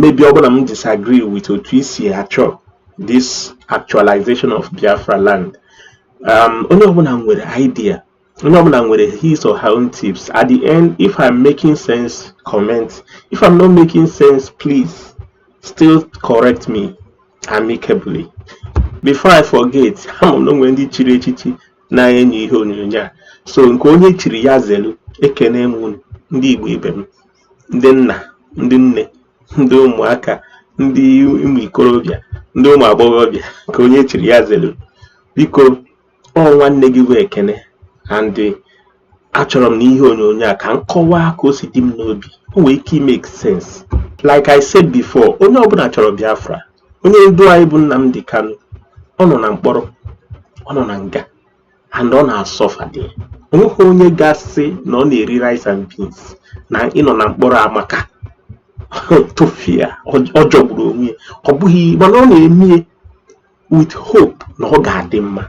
maybe ọ bụ na m disagree with otu i si achọ this actualization of Biafra land um, onye ọbụla nwere idea onye ọbụla nwere his or her own tips at the end if I'm making sense comment if I'm not making sense please still correct me amicably before I forget ama m na enwere ndị chiri echichi na-ene anya ihe onyonyo a so nke onye chiri ya zelu ekene m unu ndị Igbo ibe m ndị nna ndị nne ndị ụmụaka ndị ụmụ ikorobịa ndị ụmụ agbọghọbịa ka onye chiri ya zelu biko ọ nwanne gị bụ Ekene and achọrọ m n'ihe onyonyo a ka m kọwaa ka o si dị m n'obi o nwee ike make sense like i said before onye ọbụla chọrọ Biafra onye ndu anyị bụ Nnamdi Kanu ọ nọ na mkpọrọ ọ nọ na nga and ọ na-asuffer dị o nweghị onye ga-asị na ọ na-eri rice and beans na ịnọ na mkpọrọ amaka tufia ọ jọgburu onwe ya ọ bụghị mana ọ na-eme ya with hope na ọ ga-adị mma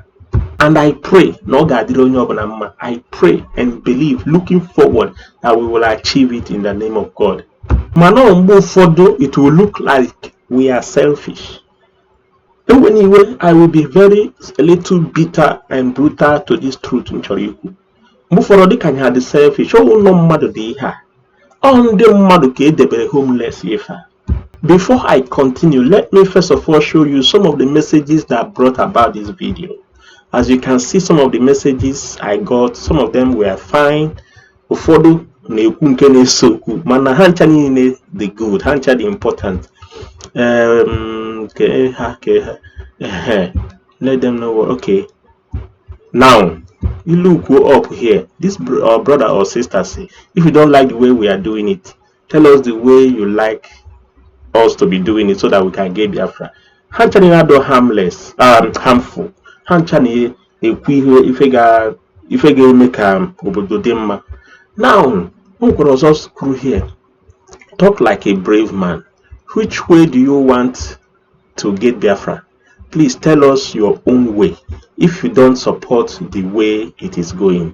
and i pray na ọ ga-adịrị onye ọbụla mma i pray and believe looking forward that we will achieve it in the name of god mana mgbe ụfọdụ it will look like we are selfish ewena iwe i will be very a little bitter and brutal to this truth m chọrọ ikwu mgbe ụfọdụ dịka anyị ha dị selfish ọ wụ ụlọ mmadụ dị ihe a ọ ndị mmadụ ka edebere homeless ife a Before I continue, let me first of all show you some of the messages that brought about this video. As you can see, some of the messages I got, some of them were fine, ụfọdụ na-ekwu nke na-ese okwu mana ha ncha niile dị good ha ncha dị important um, ke ha ke ha let them know what okay now you look up here this uh, brother or sister say if you don't like the way we are doing it tell us the way you like us to be doing it so that we can get Biafra ha ncha niile adọ harmless um, harmful ha ncha na-ekwu ihe ife ga-eme ka obodo dị mma now o kwere ọzọ screw here talk like a brave man which way do you want to get Biafra please tell us your own way if you don't support the way it is going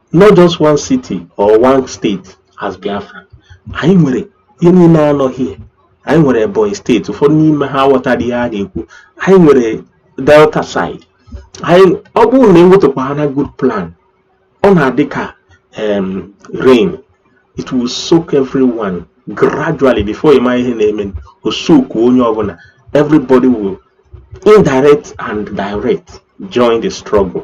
not just one city or one state as Biafra anyị nwere ihe niile anọghị anyị nwere Ebonyi state ụfọdụ n'ime ha aghọtara ihe a na-ekwu anyị nwere Delta side anyị ọ bụrụ na ewetukwa ha na good plan ọ na-adị ka rain it will soak everyone gradually before ị ma ihe na-eme o soak onye ọbụla everybody will indirect and direct join the struggle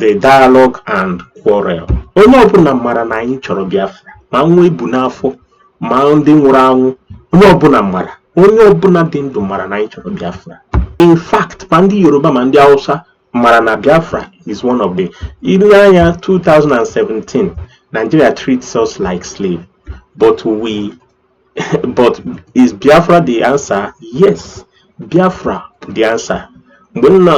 the dialogue and quarrel onye ọbụla mara na anyị chọrọ Biafra ma nwa e bu n'afọ ma ndị nwụrụ anwụ onye ọbụla mara onye ọbụla dị ndụ mara na anyị chọrọ Biafra in fact ma ndị Yoruba ma ndị Awụsa mara na Biafra is one of the i lee anya 2017 Nigeria treats us like slave but we but is biafra the answer yes biafra bụ the answer mgbe nna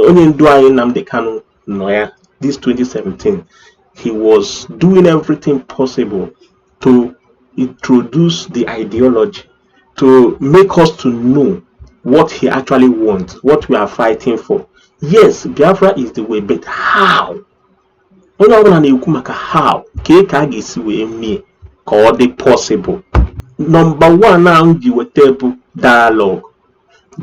onye ndu anyị Nnamdi Kanu nọ ya this 2017 he was doing everything possible to introduce the ideology to make us to know what he actually wants what we are fighting for yes biafra is the way but how onye ọbụla na-ekwu maka how kee ka a ga-esi wee mee ka ọ dị possible nọmba one ahụ ji weta bụ dialogue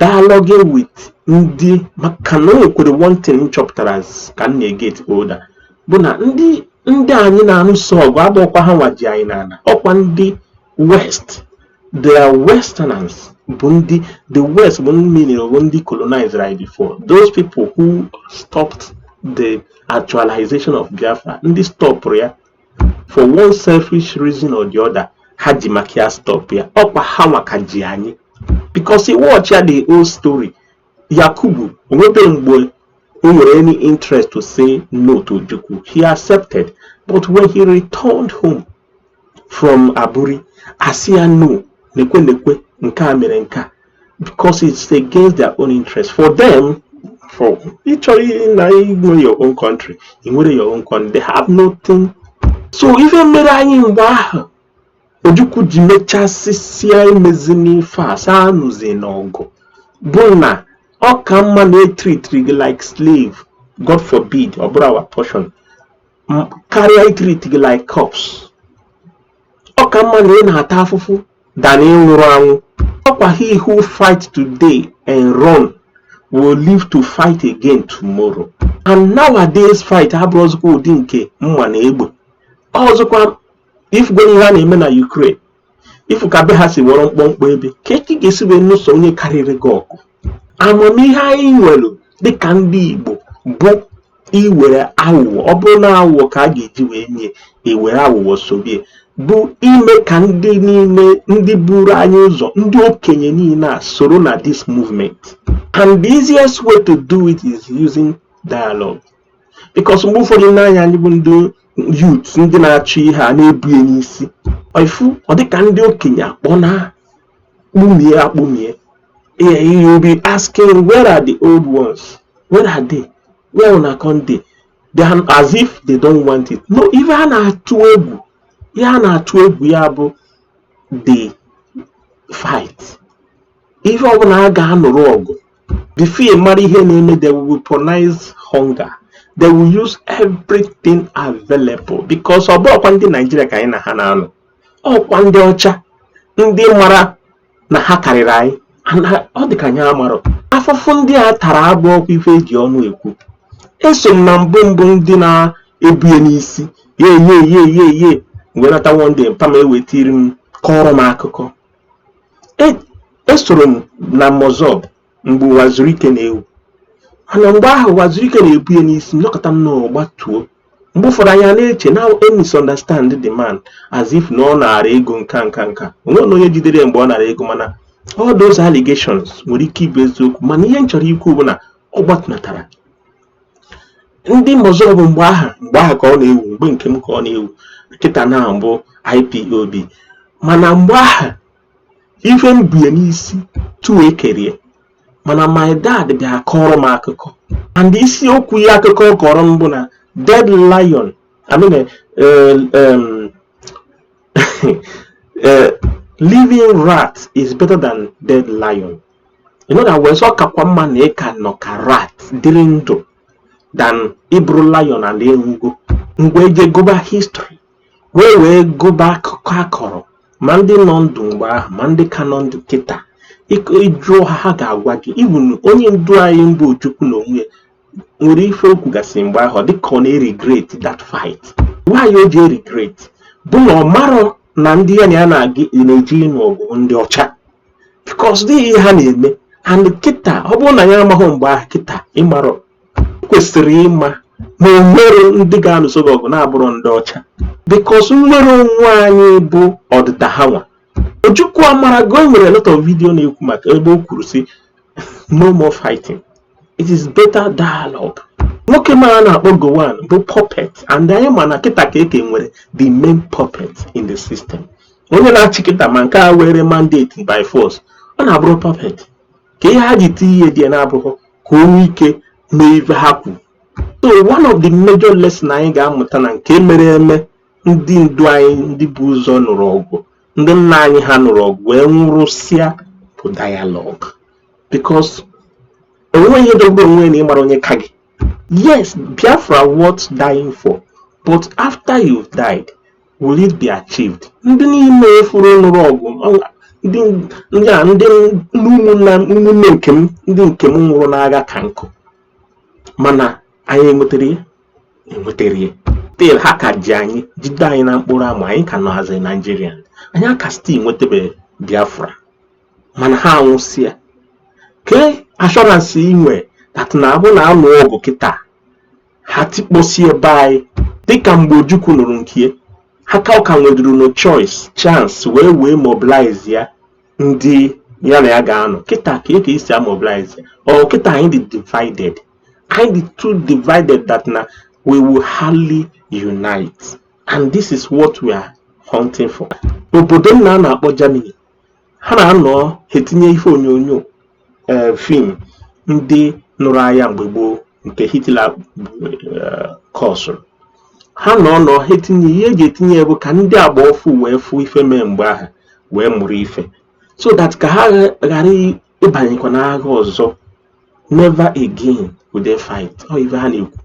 dialogue with ndị maka na o nwekwere one thing m chọpụtara ka m na-eget older bụ na ndị ndị anyị na-alụso ọgụ abụọkwa ha nwa ji anyị n'ala ọkwa ndị west the westerners bụ ndị the west bụ ndị meaning bụ ndị colonized anyị before those people who stopped the actualization of Biafra ndị stọpụrụ ya for one selfish reason or the other ha ji maka ya stop ya ọkwa ha nwa ka ji anyị because ị wọchịa the old story Yakubu o nwebe mgbe o nwere any interest to say no to Ojukwu he accepted but when he returned home from Aburi a sị ya no nekwe nekwe nke a mere nke a because it's against their own interest for them for ị chọrọ na inwe your own country i nwere your own country they have nothing so ife mere anyị mgbe ahụ Ojukwu ji mechasịsịa emezina ife a sị anụzina ọgụ bụ na ọ ka mma na e tritiri gị like slave god forbid ọ bụrọ our portion m- karịa itriti gị like corpse ọ ka mma na ị na-ata afụfụ than ị nwụrụ anwụ ọkwa he who fight today and run will live to fight again tomorrow and nowadays fight abụrọzikwa ụdị nke mma na egbe ọzọkwa i fugo ihe a na-eme na Ukraine i fu ka be ha si wọrọ mkpọmkpọ ebe kee ka ị ga-esi wee nụso onye karịrị gị ọgụ amamihe anyị nwere dịka ndị Igbo bụ iwere aghụghọ ọ bụrụ na aghụghọ ka a ga-eji wee nye e were aghụghọ sorie bụ ime ka ndị niile ndị buru anyị ụzọ ndị okenye niile a soro na this movement and the easiest way to do it is using dialogue because mgbe ụfọdụ i nee anya anyị bụ ndị youth ndị na-achọ ihe a na-ebu ya n'isi i fu ọ dịka ndị okenye akpọ na kpumie akpumie you be asking where are the old ones where are they una come dey as if they don't want it no ife a na-atụ egwu ihe a na-atụ egwu ya bụ the fight ife ọbụla a ga-anụrụ ọgụ before ị mara ihe na-eme they will weaponize hunger they will use everything available because ọ bụọkwa ndị Naijiria ka anyị na ha na-anụ ọkwa ndị ọcha ndị mara na ha karịrị anyị and ọ dị ka anyị amarọ afụfụ ndị a tara abụọkwa ife e ji ọnụ ekwu eso m na mbụ mbụ ndị na-ebu ya n'isi ye ye ye ye ye m wee nata ndị mpa m ewetiri m kọọrọ m akụkọ esoro m na MASSOB mgbe Uwazuruike na-ewu ana mgbe ahụ Uwazuruike na-ebu ya n'isi nọkọta m na ọgbatuo mgbe ụfọdụ anyị na-eche na misunderstand the man as if na ọ nara ego nka nka nka onwe na onye jidere ya mgbe ọ nara ego mana all those allegations nwere ike ịbụ eziokwu mana ihe m chọrọ ikwu bụ na ọ gbatụ natara ndị MASSOB mgbe aha mgbe aha ka ọ na-ewu mgbe nke m ka ọ na-ewu kịta na ọ bụ IPOB mana mgbe aha ife m bie n'isi tuo ekerie mana my dad bịa kọrọ m akụkọ and isiokwu ya akụkọ ọ kọrọ m bụ na dead lion I mean, uh, um, uh, living rat is better than dead lion in other words ọ kakwa mma na ị ka nọ ka rat dịrị ndụ than ị bụrụ lion and ị nwụgo mgbe eje gụba history wee wee gụba akụkọ a kọrọ ma ndị nọ ndụ mgbe ahụ ma ndị ka nọ ndụ kịta ị jụọ ha ha ga-agwa gị even onye ndu anyị mbụ Ojukwu na onwe ya nwere ife o kwugasị mgbe ahụ dịka ọ na-eregret that fight why o ji eregret bụ na ọ marọ na ndị ya na ya na-eje ịnụ ọgụ ndị ọcha because dị ihe ha na-eme and kịta ọ bụrụ na ya amaghị mgbe ahụ kịta ị mara kwesịrị ịma na o nwerọ ndị ga-anụso gị ọgụ na-abụrọ ndị ọcha because nnwere onwe anyị bụ ọdịda ha nwa ojukwu amarago o nwere lot of video na-ekwu maka ebe o kwuru sị no more fighting it is better dialogue nwoke m a na-akpọ Gowon bụ puppet and anyị ma na kịta ka eke nwere the main puppet in the system onye na-achị kịta ma nke a weere mandate by force ọ na-abụrụ puppet ka ihe ha ji tinye ihe dị ya na-abụghị ka o nwee ike mee ife ha kwu so one of the major lesson anyị ga-amụta na nke mere eme ndị ndu anyị ndị bu ụzọ nụrụ ọgụ ndị nna anyị ha nụrụ ọgụ wee nwụrụsịa bụ dialogue because enweghị ihe dogbo onwe na ịmara onye ka gị yes biafra worth dying for but after you've died will it be achieved ndị niile efuru nụrụ ọgụ ndị a ndị ụmụnne nke m ndị nke m nwụrụ n'agha ka nkụ mana anyị enwetara ya enwetara ya still ha ka ji anyị jide anyị na mkpụrụ amụ anyị ka nọhazi naijiria anyị aka still nwetabeghị biafra mana ha anwụsịa ke assurance i nwe that na abụ na a nụ ọgụ kịta ha tikposie be anyị dịka mgbe ojukwu nụrụ nke ha ka ọ ka nweduru nụ choice chance wee wee mobilize ya ndị ya na ya ga-anọ kịta ka e ka esi amobilize ọ kịta anyị dị divided anyị dị too divided that na we will hardly unite and this is what we are hunting for obodo nna a na-akpọ Germany ha na-anọ etinye ife onyonyo ee fim ndị nụrụ aya mgbe gboo nke Hitler kọsụrụ ha na-anọ ha etinye ihe eji etinye ya bụ ka ndị agba ọfụụ wee fụ ife mee mgbe ahụ wee mụrụ ife so that ka ha ghara ịbanyekwa n'agha ọzọ never again will they fight ọ ife ha na-ekwu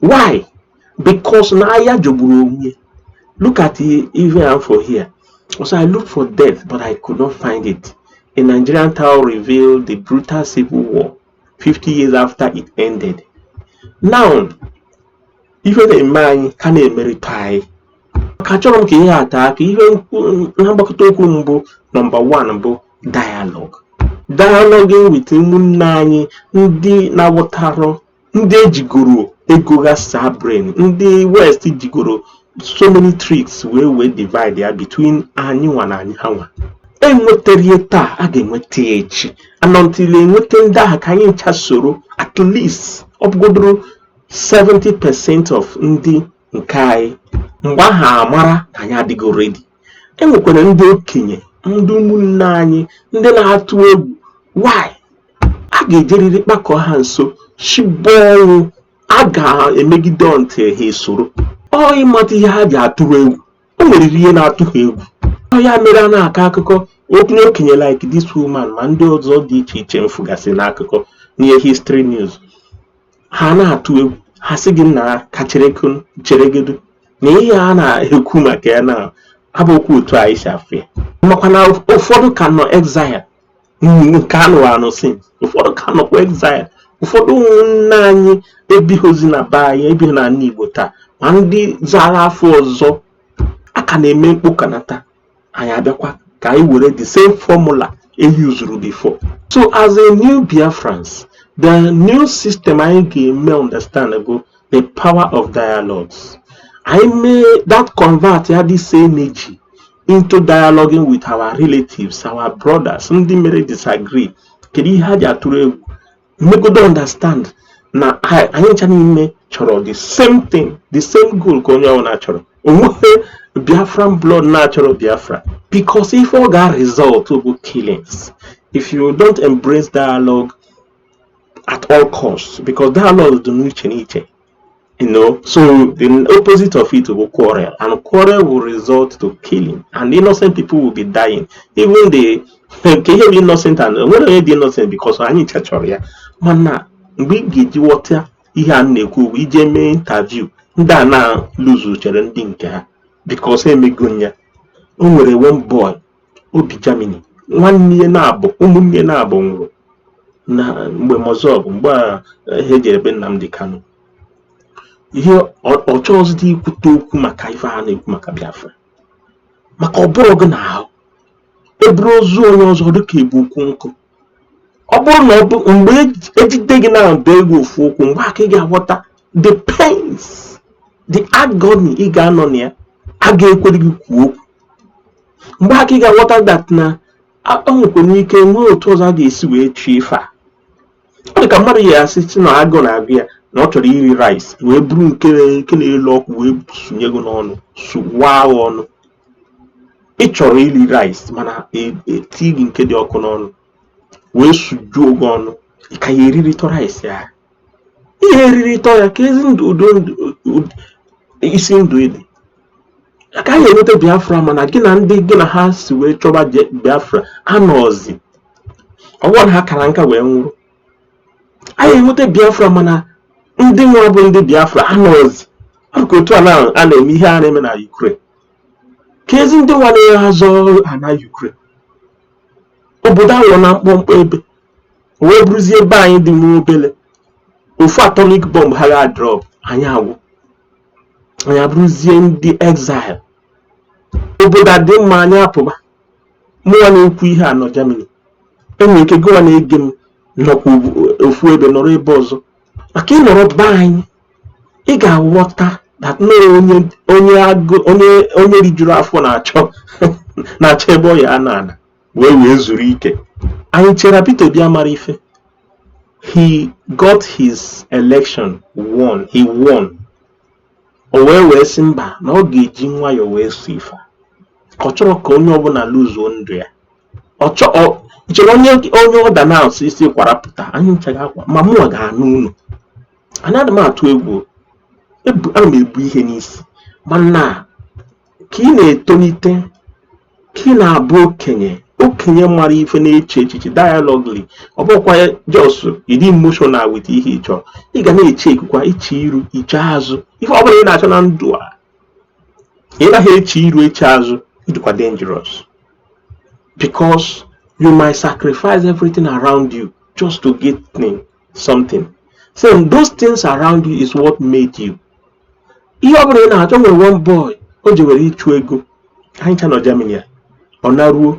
why because na aya jọgburu onwe ya look at ife afụ here ọ sị i looked for death but i could not find it a nigerian town revealed the brutal civil war 50 years after it ended now ife na-eme anyị ka na-emerịta anyị ka chọrọ m ka ihe ata aka ihe na mgbakọta okwu mbụ nọmba 1 bụ dialogue dialogue with ụmụnne anyị ndị na-aghọtarọ ndị ejigoro ego ghasaa brain ndị west jigoro so many tricks wee wee divide ya between anyị nwa na anyị ha nwa enwetarọ taa a ga-enweta ya echi until e nweta ndị ahụ ka anyị ncha soro at least ọ bụgodoro 70% of ndị nke anyị mgbe ahụ amara na anyị adịgo ready e nwekwara ndị okenye ndị ụmụnne anyị ndị na-atụ egwu why a ga-ejeriri kpakọ ha nso chigbo ọnwụ a ga-emegide until ha esoro ọ ịmata ihe ha ji atụrụ egwu o nwere ihe na-atụ ha egwu ọ ya mere a na-akọ akụkọ okenye okenye like this woman ma ndị ọzọ dị iche iche m fụgasị n'akụkọ n'ihe history news ha na-atụ egwu ha sị gị nnaa ka cheregodo na ihe a na-ekwu maka ya na abụhọkwa otu anyị si afụ ya makwa na ụfọdụ ka nọ exile nke anụ anụ since ụfọdụ ka nọkwa exile ụfọdụ ụmụnne anyị ebihọzi na be anyị ebihọ n'ana Igbo taa ma ndị zara afa ọzọ a ka na-eme mkpokanata anyị abịakwa ka anyị were the same formula e uzuru before so as a new biafrans the new system anyị ga-eme understand go the power of dialogues anyị mee that convert ya the same energy into dialoguing with our relatives our brothers ndị mere disagree kedu ihe ha ji atụrụ egwu megodo understand na anyị ncha niine chọrọ the same thing the same goal ka onye ọ wụ na-achọrọ onwehọ biafran blood na-achọrọ biafra because ife ọ ga result bụ killings if you don't embrace dialogue at all costs because dialogue dị n'iche n'iche You know, so the opposite of it will quarrel, and quarrel will result to killing, and innocent people will be dying. Even the kee ihe bụ innocent e nwere onye dị innocent because anyị ncha chọrọ ya mana mgbe ị ga-eji ghọta ihe a na-ekwu bụ ị jee mee interview ndị a na-lose chara ndị nke ha because emego ya o nwere one boy o bi Germany nwanne ya naabọ ụmụnne ya naabọ nwụrụ na mgbe MASSOB mgbe ha jere be Nnamdi Kanu ihe ọ chọọzịdị ikwute okwu maka ife a na-ekwu maka Biafra maka ọ bụrụ gị na-ahụ eburu ozu onye ọzọ ọ dịka e bu ukwu nkụ ọ bụrụ na mgbe ejide gị na-ebe gị ofu ụkwụ mgbe a ka ị ga-aghọta the pains the agony ị ga-anọ na ya a ga-ekwere gị kwuo okwu mgbe a ka ị ga-aghọta that na e nwekwanụ ike nwee otu ọzọ a ga-esi wee achieve ife a ọ dị ka mmadụ ya asị sị na agụụ na-agụ ya na ọ chọrọ iri rice wee buru nke na-elu ọkụ wee sunye gị n'ọnụ suwaa gị ọnụ ị chọrọ iri rice mana e tii gị nke dị ọkụ n'ọnụ wee sujuo gị ọnụ ị ka ya eriritọ rice a ihe eriritọ ya keezidị isi ndụ ị dị a ga-enweta biafra mana gị na ndị gị na ha so wee chọba biafra anọọzi ọ bụrọ na ha kara nka wee nwụrụ anyị enweta biafra mana ndị nwa bụ ndị biafra anọọzi maka otu a na-eme ihe a na-eme na Ukraine keezi ndị nwa na-azọ ana Ukraine obodo aghọrọna mkpọmkpọ ebe ya bụrụzie be anyị dị nwa obele ofu atomic bomb ha ga-drop anyị agwụ anyị abụrụzie ndị exile obodo adị mma anyị apụba mụnwa na-ekwu ihe a nọ Germany enwere ike gịwa na-ege m nọkwa ofu ebe nọrọ ebe ọzọ maka ị nọrọ be anyị ị ga-aghọta that na onye onye agụ onye onye rijuru afọ na-achọ na-achọ ebe ọ ya-ana ana wee wee zuru ike anyị chere Peter Obi amara ife he got his election won he won O wee wee sị mba na ọ ga-eji nwayọọ wee soo ife a ọ chọrọ ka onye ọbụla lose ndụ ya ọ chọọ chere onye onye ọ ga na-asụ isi kwarapụta anyị ncha ga-akwa ma mụnwa ga-anụ unu anyị adị m atụ egwu ana m ebu ihe n'isi mana ka ị na-etolite ka ị na-abụ okenye okenye mara ife na-eche echiche dialogly ọ bụkwa just ịdị emotional with ihe ị chọ ị ga na-echekwukwa i chee iru i chee azụ ife ọ bụla ị na-achọ na ndụ a ị naghị eche iru eche azụ ị dịkwa dangerous because you might sacrifice everything around you just to get something so those things around you is what made you ihe ọ bụla ị na-achọ o nwere one boy o jewere ịchụ ego anyị ncha nọ Germany ya ọ naruo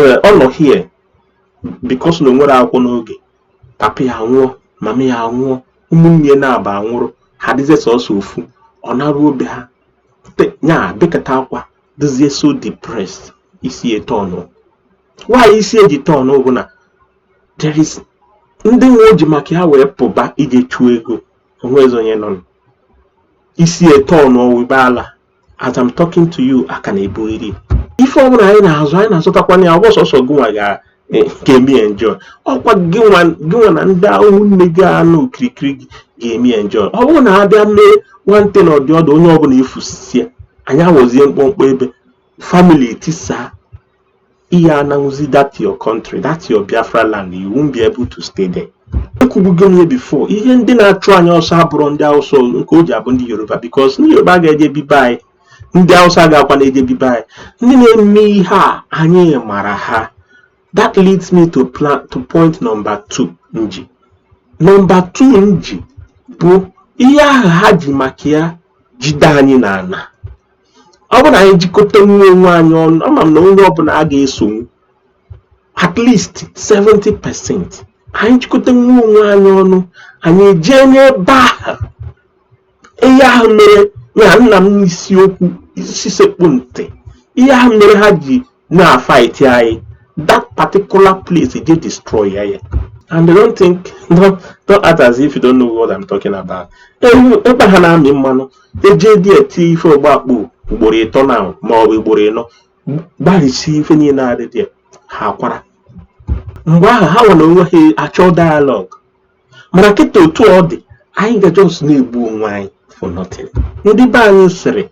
eh, ọ nọ here because na o nwerọ akwụkwọ n'oge papa ya nwụọ mama ya nwụọ ụmụnne ya naabọ anwụrụ ha dịzie sọsọ ofu ọ naruo be ha ya bekata akwa dịzie so depressed isi ya turn why isi ya ji turn bụ na there is ndị ahụ o ji maka ha wee pụba ije chụọ ego o nwezi onye nọ isi ya turn ọ wịba ala as I'm talking to you a ka na-ebu iri ife ọbụla anyị na-azọ anyị na-azọtakwanụ ya ọ bụrọ sọsọ gịnwa ga-eme enjoy ọ kwa gịnwa na ndị ahụ niine ga-anọ okirikiri gị ga-eme enjoy ọ bụrụ na a bịa mee nwante na ọdị ọdụ onye ọbụla efusisie anyị awọzie mkpọmkpọ ebe family etisaa ị ya-anọnwuzi that your country that your biafra land you won't be able to stay there ekwubugo m ya before ihe ndị na-achụ anyị ọsọ abụrọ ndị awụsa nke o ji abụ ndị yoruba because ndị yoruba ga-eje bi be anyị ndị awụsa gakwa na-eje bi be anyị ndị na-eme ihe a anyị mara ha that leads me to plan to point number two m ji number two m ji bụ ihe ahụ ha ji maka ya jide anyị n'ala ọ bụrụ na anyị jikọtanwu onwe anyị ọnụ ama m na onye ọbụla a ga-esonwu at least 70 percent anyị jikọtanwu onwe anyị ọnụ anyị ejee n'ebe ahụ ihe ahụ mere ya nna m n'isiokwu isi sekpụ ntị ihe ahụ mere ha ji na-a fight anyị that particular place e jee destroy ya and they don't think don't, don't act as if you don't know what I'm talking about ebe ha na-amị mmanụ e jee there tii ife ọ gbaa kpo ugboro ịtọ na ma ọ bụ ugboro ịnọ gbarisie ife niile a dị there ha akwara mgbe ahụ ha ewere onwe ha achọ dialogue mana kịta otu ọ dị anyị ga just na-egbu onwe anyị for nothing ndị be anyị sịrị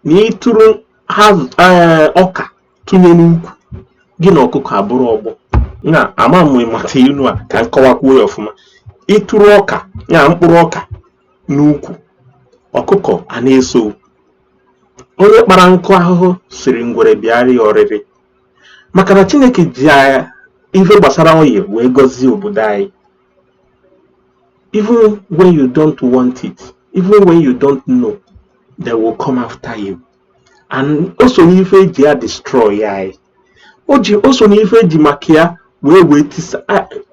na ị tụrụ eh, ọka tụnye n'ukwu gị na ọkụkọ abụrụ ọgbọ na ama m ị mata ilu a ka m kọwakwuo ya ọfụma ị tụrụ ọka ya mkpụrụ ọka n'ukwu ọkụkọ ana-eso onye kpara nkụ ahụhụ sịrị ngwere bịara ya ọrịrị maka na Chineke ji ife gbasara oil wee gọzie obodo anyị even when you don't want it even when you don't know they will come after you and o so n'ife eji ya destroy anyị o ji o so n'ife eji maka ya wee wee tisa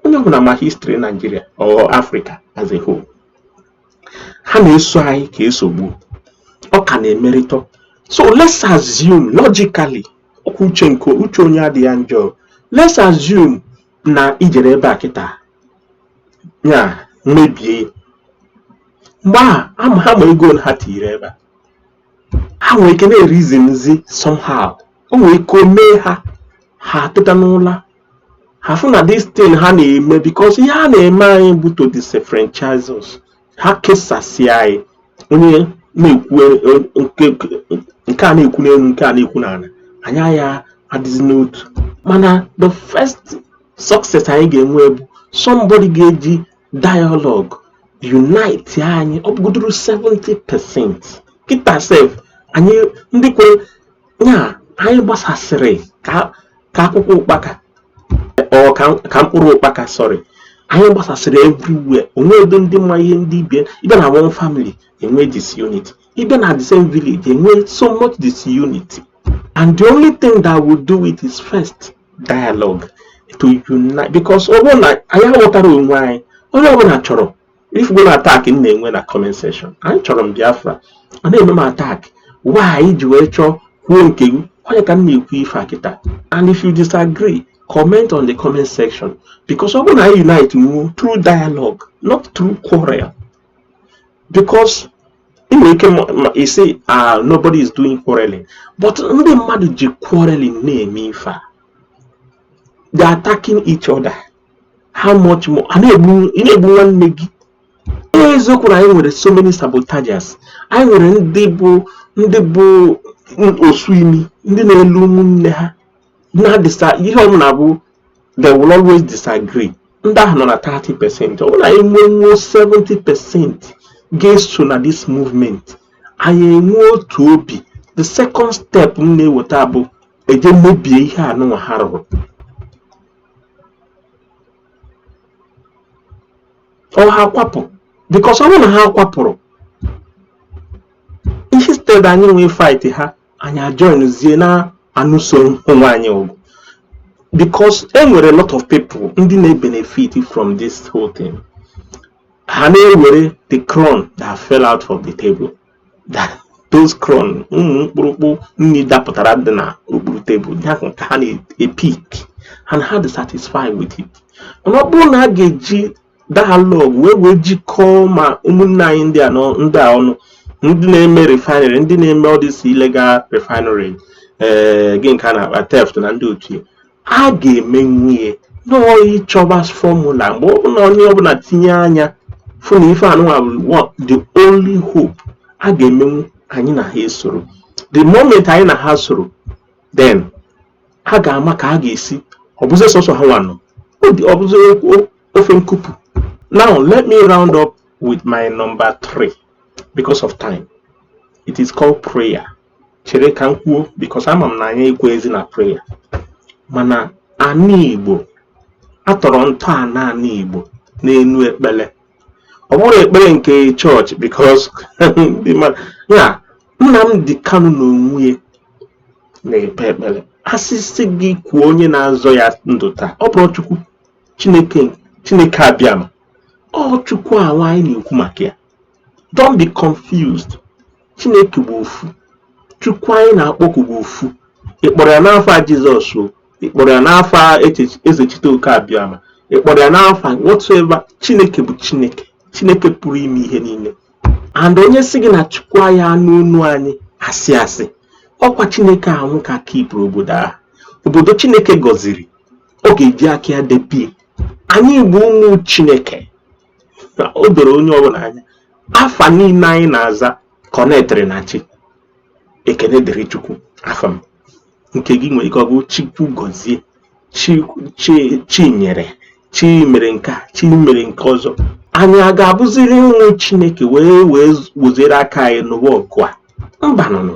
onye ọbụla ma history Nigeria or Africa as a whole ha na-eso anyị ka esogbu ọ ka na-emeritọ so let's assume logically ọkwa uche nke uche onye adị ya njọ let's assume na i jere ebe a kịta ya mebie mgbe ahụ ama ha ma ego ha tinyere ebe a ha nwere ike na-erizinzi somehow o nwere ike o mee ha ha teta n'ụla ha fụ na this thing ha na-eme because ihe a na-eme anyị bụ to disenfranchise us ha kesasịa anyị onye na-ekwu nke a na-ekwu n'elu nke a na-ekwu n'ala anyị agaghị adịzi n'otu mana the first success anyị ga-enwe bụ somebody ga-eji dialogue unite anyị ọ bụgodoro 70 percent kịta sef anyị ndị kwere ya anyị gbasasịrị ka ka akwụkwọ ụkpaka or ka mkpụrụ ụkpaka sorry anyị gbasasịrị everywhere o nwerọ ndị ma ihe ndị ibe ị bịa na one family enwe disunity ị bịa na the same village enwe so much disunity and the only thing that will do it is first dialogue to unite because ọ bụrụ na anyị aghọtara onwe anyị onye ọbụla chọrọ ị fụgo attack m na-enwe na comment section anyị chọrọ m Biafra a na-eme m attack why anyị ji wee chọọ kwuo nke gị onye ka m na-ekwu ife a kịta and if you disagree comment on the comment section because ọ bụrụ na anyị unite nwuo through dialogue not through quarrel because ị nwere ike isi ah nobody is doing quarreling but ndị mmadụ ji quarreling na-eme ife a they are attacking each other how much more a na-egbu ị na-egbu nwanne gị eziokwu na anyị nwere so many sabotagers anyị nwere ndị bụ ndị bụ ọsụ imi ndị na-ele ụmụnne ha na-adịsa ihe ọ bụla bụ they will always disagree ndị ahụ nọ na 30 percent ọ bụrụ na anyị nwee nwuo 70 percent ga-eso na this movement anyị enwe otu obi the second step m na-eweta bụ eje mebie ihe anụnwa ha rụrụ ọ ha kwapụ because ọ bụrụ na ha kwapụrụ instead anyị nwee fight ha anyị ajoinzie na-anụso onwe anyị ọgụ because e nwere lot of people ndị na-ebenefit from this whole thing ha na-ewere the crumb that fell out of the table those crumbs ụmụ mkpụrụkpụ nni dapụtara dị na okpuru tebụl ya ka ha na-epik and ha dị satisfy with it mana ọ bụrụ na a ga-eji dialogue wee wee jikọọ ma ụmụnne anyị ndị a ndị a ọnụ ndị na-eme refinery ndị na-eme all these illegal refinery ee eh, gịnị ka a na-akpọ theft na ndị otu a ga-emenwu ihe n'ọ ịchọba fọmula mgbe ọ bụla onye ọbụla tinye anya fụ na ife anụnwa bụ the only hope a ga-emenwu anyị na ha esoro the moment anyị na ha soro then ha ga-ama ka a ga-esi ọ bụzi sọsọ hanwa nọ ọ bụzi ofe nkupu now let me round up with my number three because of time it is called prayer chere ka m kwuo because ama m na anyị ekwezi na prayer mana ana igbo a tọrọ ntọana ana igbo n'enu ekpele ọ bụrọ ekpele nke chọọchị because nnamdị kanu na onwe ya na-ekpe ekpele a sị sị gị kwuo onye na-azọ ya ndụ taa ọ bụrụ chukwu chineke chineke abịama ọ chukwu awa anyị na-ekwu maka ya don't be confused chineke bụ ofu chukwu anyị na-akpọku bụ ofu ị kpọrọ ya n'afa jizọs o ị kpọrọ ya n'afa ezechitoke abịama ị kpọrọ ya n'afa whatsoever chineke bụ chineke chineke pụrụ ime ihe niile and onye sị gị na chukwu anaghị anụ onu anyị asị asị ọkwa chineke anwụ ka kepụrụ obodo ahụ obodo chineke gọziri ọ ga-eji aka ya debie anyị bụ ụmụ chineke o doro onye ọbụla anya afa niile anyị na-aza kọnektịrị na chi ekene dịrị chukwu afa m nke gị nwere ike ọ bụ chukwu gozie chinyere chi mere nke a chi mere nke ọzọ anyị aga-abụziri ụmụ chineke wee wee wezire aka anyị nụwa ọgụ a mba nụnụ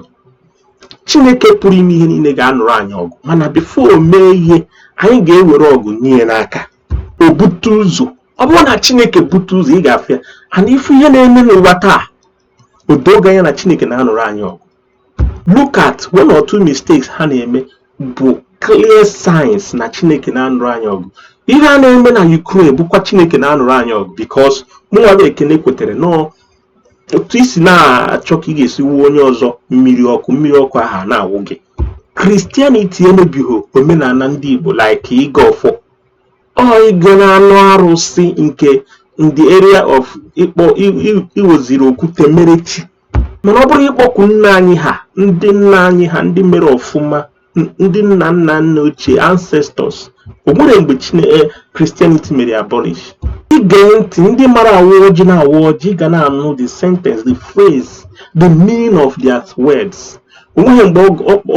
chineke pụrụ ime ihe niile ga-anụrụ anyị ọgụ mana before o mee ihe anyị ga-ewere ọgụ nye ya n'aka o bute ụzọ ọ bụrụ na chineke bute ụzọ ị ga-afụ ya and ị fụ ihe na-eme n'ụwa taa o doo gị anya na chineke na-anụrụ anyị ọgụ look at one or two mistakes ha na-eme bụ clear signs na chineke na-anụrụ anyị ọgụ ihe a na-eme na Ukraine bụkwa chineke na-anụrụ anyị ọgụ because mụnwa ekene kwetere n'ọ otu i si na-achọ ka ị ga-esi wụọ onye ọzọ mmiri ọkụ mmiri ọkụ ahụ na-awụ gị kristianiti emebighị omenana ndị igbo like ịgọ ọfọ ọ ịga na ọnụ arụsị nke in the area of ịkpọ iweziri okwute mere chi mana ọ bụrụ ịkpọku nna anyị ha ndị nna anyị ha ndị mere ọfụma ndị nna nna nna ochie ancestors o nwere mgbe Christianity eh, mere abolish ị gee ntị ndị mara awa ọjị na-awa ọjị ị ga na-anụ the sentence the phrase the meaning of their words o nweghị mgbe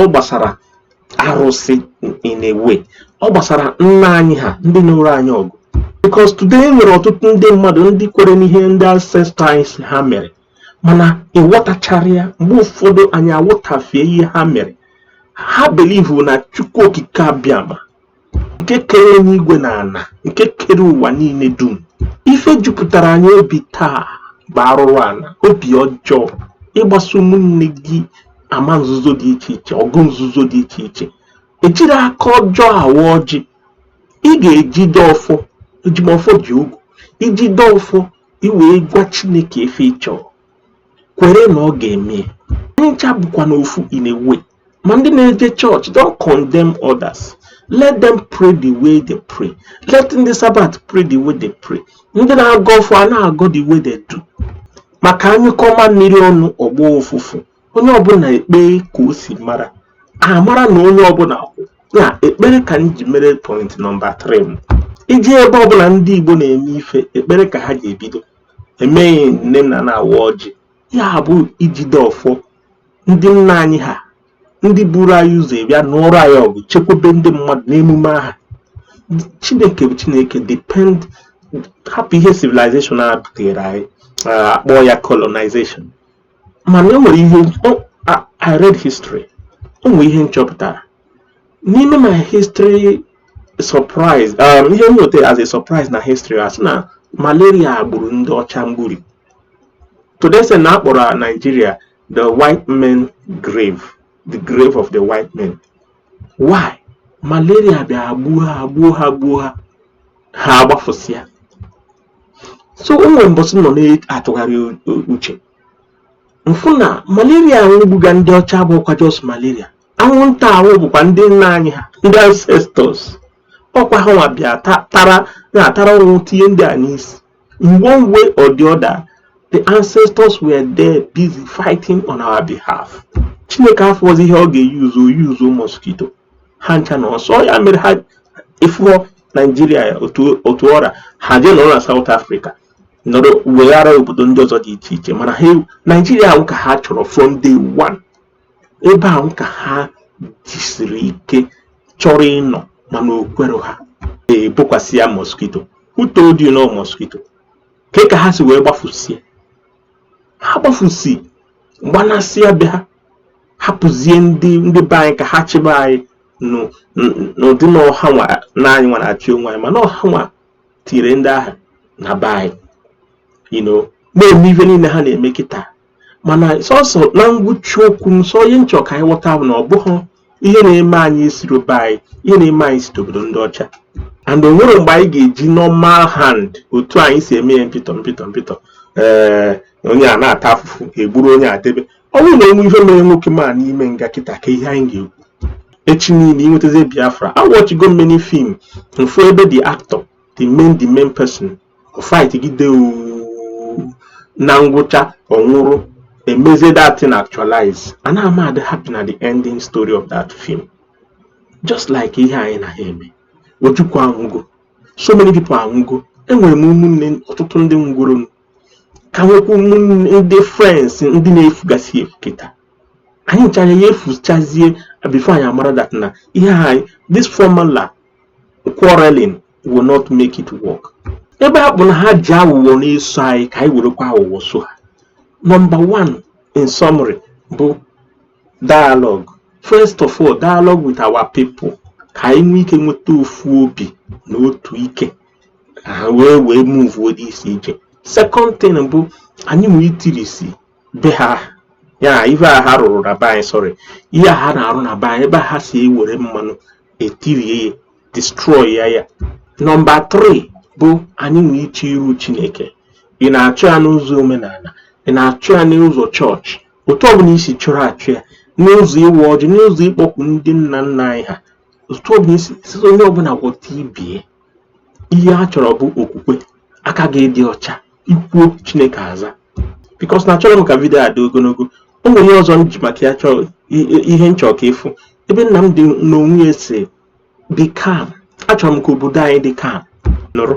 ọ gbasara arụsị in a way ọ gbasara nna anyị ha ndị nụọrọ anyị ọgụ because today e nwere ọtụtụ ndị mmadụ ndị kwere n'ihe ndị ancestors ha mere mana ị ghọtachara ya mgbe ụfọdụ anyị aghọtafee ihe ha mere ha believe na chukwu okike abịama nke kere enu igwe na ana nke kere ụwa niile dum ife jupụtara anyị obi taa bụ arụrụ ana obi ọjọọ ịgbaso ụmụnne gị ama nzuzo dị iche iche ọgụ nzuzo dị iche iche ejiro aka ọjọọ awa ọjị ị ga-ejide ọfọ eji m ọfọ ji ogu i jide ọfọ i wee gwa chineke ife ị chọrọ kwere na ọ ga-eme ncha bụkwanụ ofu in a way ma ndị na-eje chọọchị don't condemn others let them pray the way they pray let ndị Sabbath pray the way they pray ndị na-agọ ọfọ a na-agọ the way they do maka a nyụkọọ mamịrị ọnụ ọ gbọọ ụfụfụ onye ọbụna ekpee ka o si mara a mara na onye ọbụna kwụ na ekpere ka m ji mere point number 3 m iji ebe ọbụna ndị Igbo na-eme ife ekpere ka ha ji ebido emeghị nne na na-awa ọjị ya bụ ijide ọfọ ndị nna anyị ha ndị buru anyị ụzọ bịa nụọrụ anyị ọgụ chekwube ndị mmadụ n'emume aha chineke bụ chineke depend hapụ ihe civilization a butere anyị a kpọọ ya colonization mana e nwere ihe o- a- I read history o nwere ihe m chọpụtara n'ime my history surprise um, ihe m nweta as a surprise na history a sị na malaria gburu ndị ọcha mgburi to the extent na a kpọrọ Nigeria the white men grave the grave of the white men why malaria bịa gbuo ha gbuo ha gbuo ha ha agbafụsịa so o nwere mbọsị m nọ na-atụgharị uche m fụ na malaria ahụ gbuga ndị ọcha abụrọkwa just malaria anwụnta ahụ bụkwa ndị nna anyị ha ndị ancestors ọkwa ha nwa bịara tara ọnwụ tinye ndị a n'isi in one way or the other the ancestors were there busy fighting on our behalf chineke afụrọzi ihe ọ ga-use o use mosquito ha ncha na ọsọ ya mere ha ji fụọ Nigeria otu ọ ra ha jee nọrọ na South Africa nọrọ weghara obodo ndị ọzọ dị iche iche mana the Nigeria ahụ ka ha chọrọ from day one ebe ahụ ka ha jisiri ike chọrọ ịnọ mana o kwero ha e bokwasị ya mosquito who told you na ọ mosquito ke ka ha si wee gbafụsịa ha gbafụsị gbanasịa be ha hapụzie ndị ndị be anyị ka ha chịba anyị n'ụdị na ọ ha nwa na anyị nwa na-achị onwe anyị mana ọ ha nwa tiri ndị ahụ na be anyị na-eme ife niile ha na-eme kịta mana sọsọ na ngwụcha okwu m sọ ihe m chọ ka anyị ghọta bụ na ọ bụghị ihe na-eme anyị esiro be anyị ihe na-eme anyị si obodo ndị ọcha and o nwere mgbe anyị ga-eji normal hand otu anyị si eme ya mpịtọ mpịtọ mpịtọ ee eh, onye a na-ata afụfụ e gburu onye adebe ọ bụrụ na o nwe ihe mere nwoke m a n'ime nga kịta ka ihe anyị ga-ekwu echi niile e nwetazie biafra awatchigo m many film m fụ ebe the actor the main the main person fight gide na ngwụcha ọ nwụrụ e mezie that thing actualize anaha m adị happy na the ending story of that film just like ihe anyị na ha eme ojukwu anwụgo so many people anwụgo enwere m ụmụnne ọtụtụ ndị nwụrụnụ ka nwekwa ụmụnne ndị friends ndị na-efugasị efu kịta anyị ncha ya-efuchazie before anyị amara that na ihe anyị this formula quarreling will not make it work ebe ọ bụ na ha ji aghụghọ na-eso anyị ka anyị werekwa aghụghọ so ha number one in summary bụ dialogue first of all dialogue with our people ka anyị nwee ike nweta ofu obi na otu ike ha wee wee move isi ije second thing bụ anyị nwa itirisi be ha ya ife a ha rụrụ na be anyị sorry ihe a ha na-arụ na be anyị ebe ha si ewere mmanụ etirie ya destroy ya ya number 3 bụ anyị nwa iche iru chineke ị na-achọ ya n'ụzọ omenala ị na-achọ ya n'ụzọ chọọchị otu ọbụla i si chọrọ achọ ya n'ụzọ ịwa ọjị n'ụzọ ịkpọku ndị nna nna anyị ha otu ọbụla i si onye ọbụla ghọta ibe ya ihe a chọrọ bụ okwukwe aka gị dị ọcha i kwuo chineke aza because na achọrọ m ka video a dị ogologo o nwere ihe ọzọ m ji maka ya chọọ ihe m chọ ka ị fụ ebe nnamdi n'onwe ya sị dị calm achọrọ m ka obodo anyị dị calm nụrụ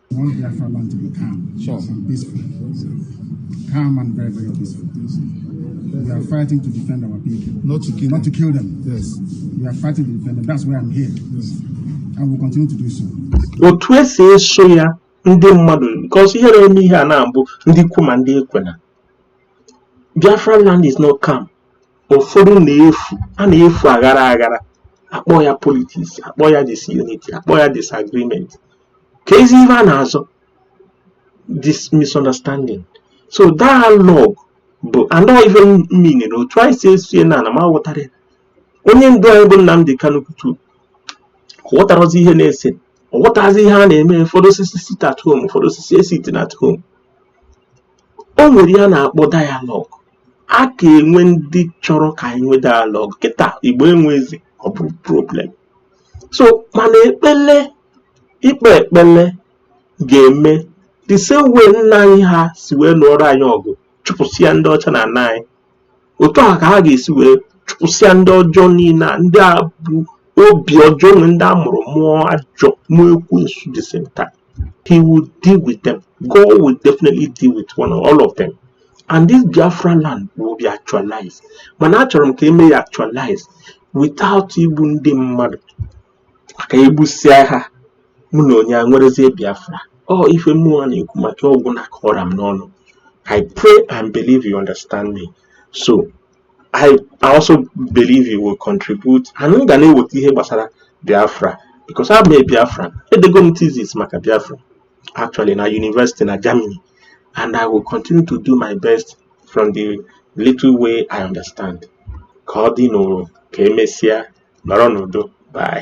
calm and very, very peaceful. We are fighting to defend our people. Not to kill them. Not to kill them. Yes. We are fighting to defend them. That's why I'm here. Yes. And we continue to do so. Otu e si eso ya ndị mmadụ because ihe na-eme ihe a na-abụ ndị kwe ma ndị ekwena. Biafra land is not calm. Ụfọdụ na-efu, a na-efu aghara aghara. A kpọọ ya politics, a kpọọ ya disunity, a kpọọ ya disagreement. keezi ihe a na-azọ this misunderstanding so dialogue bụ anọ ife mmiri na otu anyị si esie na ana m aghọtara ya onye ndu anyị bụ Nnamdi Kanu kwutu ghọtarọzi ihe na-ese ọ ghọtazi ihe a na-eme ụfọdụ asị sit at home ụfọdụ asị esit at home o nwere ihe a na-akpọ dialogue a ka enwe ndị chọrọ ka anyị nwee dialogue kịta Igbo enwe eze ọ bụrụ problem so mana ekpele ịkpe ekpele ga-eme the same way nna anyị ha si wee lụọrọ anyị ọgụ chụpụsịa ndị ọcha n'ana anyị otu a ka ha ga-esi wee chụpụsịa ndị ọjọọ niile a ndị a bu obi ọjọọ nwere ndị a mụrụ mụọ ajọ mụọ ekwensu the same time he will deal with them God will definitely deal with one all of them and this Biafra land will be actualized mana achọrọ m ka e mee ya actualize without igbu ndị mmadụ ka e gbusịa ha mụ na onye enwerezie Biafra ọ ife mụnwa na-ekwu maka ọ gwụna ka ọ ra m n'ọnụ I pray and believe you understand me so I, I also believe I will contribute and m ga na-eweta ihe gbasara Biafra because I'm a Biafra edego m thesis maka Biafra actually na university na Germany and I will continue to do my best from the little way I understand ka ọ dị n'ụrụ ka e mesịa nọrọ n'udo bye